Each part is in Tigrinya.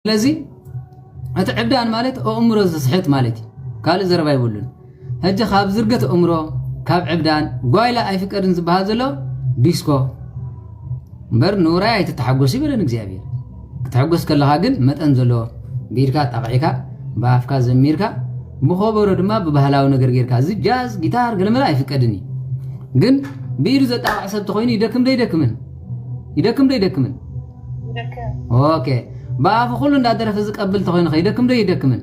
ስለዚ እቲ ዕብዳን ማለት ኣእምሮ ዝስሕት ማለት እዩ ካልእ ዘረባ ይብሉን ሕጂ ካብ ዝርገት ኣእምሮ ካብ ዕብዳን ጓይላ ኣይፍቀድን ዝበሃል ዘሎ ዲስኮ እምበር ንውራይ ኣይትተሓጎስ ይበለን እግዚኣብሔር ክትሕጎስ ከለኻ ግን መጠን ዘለዎ ብኢድካ ጣቕዒካ ብኣፍካ ዘሚርካ ብኸበሮ ድማ ብባህላዊ ነገር ጌርካ እዚ ጃዝ ጊታር ገለመለ ኣይፍቀድን እዩ ግን ብኢዱ ዘጣቕዕ ሰብ ተኮይኑ ይደክም ዶ ይደክምን ይደክም ዶ ይደክምን ኦኬ ብኣፉ ኩሉ እንዳደረፈ ዝቀብል ተኮይኑ ከይደክም ዶ ይደክምን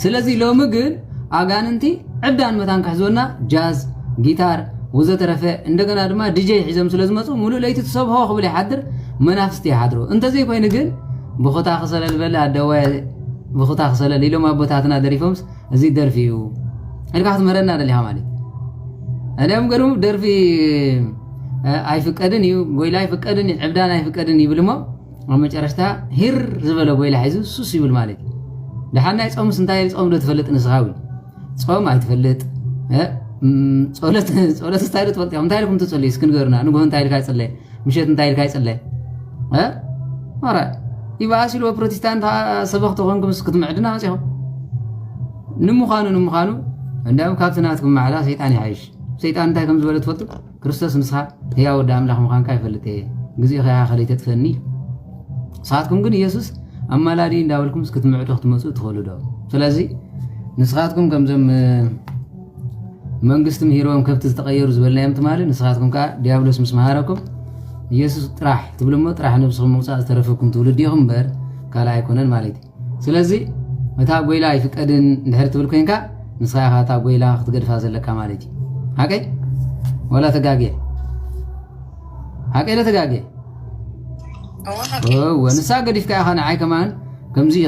ስለዚ ሎሚ ግን ኣጋንንቲ ዕብዳን መታን ክሕዝወና ጃዝ ጊታር ወዘተረፈ እንደገና ድማ ድጀ ሒዞም ስለ ዝመፁ ሙሉእ ለይቲ ትሰብሖ ክብል ይሓድር መናፍስቲ ይሓድሩ እንተዘይኮይኑ ግን ብኹታ ክሰለል በለ ኣደዋይ ብኹታ ክሰለል ኢሎም ኣቦታትና ደሪፎምስ እዚ ደርፊ እዩ ኢልካ ክትምህረና ደሊኻ ማለት እደም ገርም ደርፊ ኣይፍቀድን እዩ ጎይላ ኣይፍቀድን እዩ ዕብዳን ኣይፍቀድን ይብል እሞ ኣብ መጨረሽታ ሂር ዝበለ ጎይላ ሒዙ ሱስ ይብል ማለት እዩ ድሓን ናይ ፆምስ እንታይ ፆም ዶ ትፈልጥ ንስኻ እውን ፆም ኣይትፈልጥ ፆለት ፆለት እንታይ ዶ ትፈልጥ እንታይ ኢልኩም ትፅልዩ እስኪ ንገሩና ንግሆ እንታይ ኢልካ ይፅለ ምሸት እንታይ ኢልካ ይጽለ እ ኧረ ይበኣስ ኢልዎ ፕሮቴስታንት ሰበኽ ተኾንኩም ክትምዕድና መጺኹም ንምዃኑ ንምዃኑ እንዲያውም ካብቲ ናትኩም ማዕዳ ሰይጣን ይሓይሽ ሰይጣን እንታይ ከም ዝበለ ትፈልጡ ክርስቶስ ንስኻ ህያው ወዲ ኣምላኽ ምዃንካ ይፈልጥ እየ ግዜኡ ከያ ከለይ ተጥፈኒ ንስኻትኩም ግን ኢየሱስ ኣማላዲ እንዳበልኩም ክትምዕዱ ክትመፁ ትኽእሉ ዶ ስለዚ ንስኻትኩም ከምዞም መንግስቲ ምሂርዎም ከብቲ ዝተቐየሩ ዝበልናዮም ትማሊ ንስኻትኩም ከዓ ዲያብሎስ ምስ መሃረኩም ኢየሱስ ጥራሕ ትብሉ እሞ ጥራሕ ነብስኹም ምውፃእ ዝተረፈኩም ትውልዲ ኢኹም እምበር ካልእ ኣይኮነን ማለት እዩ ስለዚ እታ ጎይላ ኣይፍቀድን እንድሕር ትብል ኮንካ ንስኻ ኢኻ እታ ጎይላ ክትገድፋ ዘለካ ማለት እዩ ሓቀይ ወላ ተጋግየ ሓቀይ ተጋግየ ንሳ ገዲፍካ ኢኻ ንዓይ ከማን ከምዚ እዩ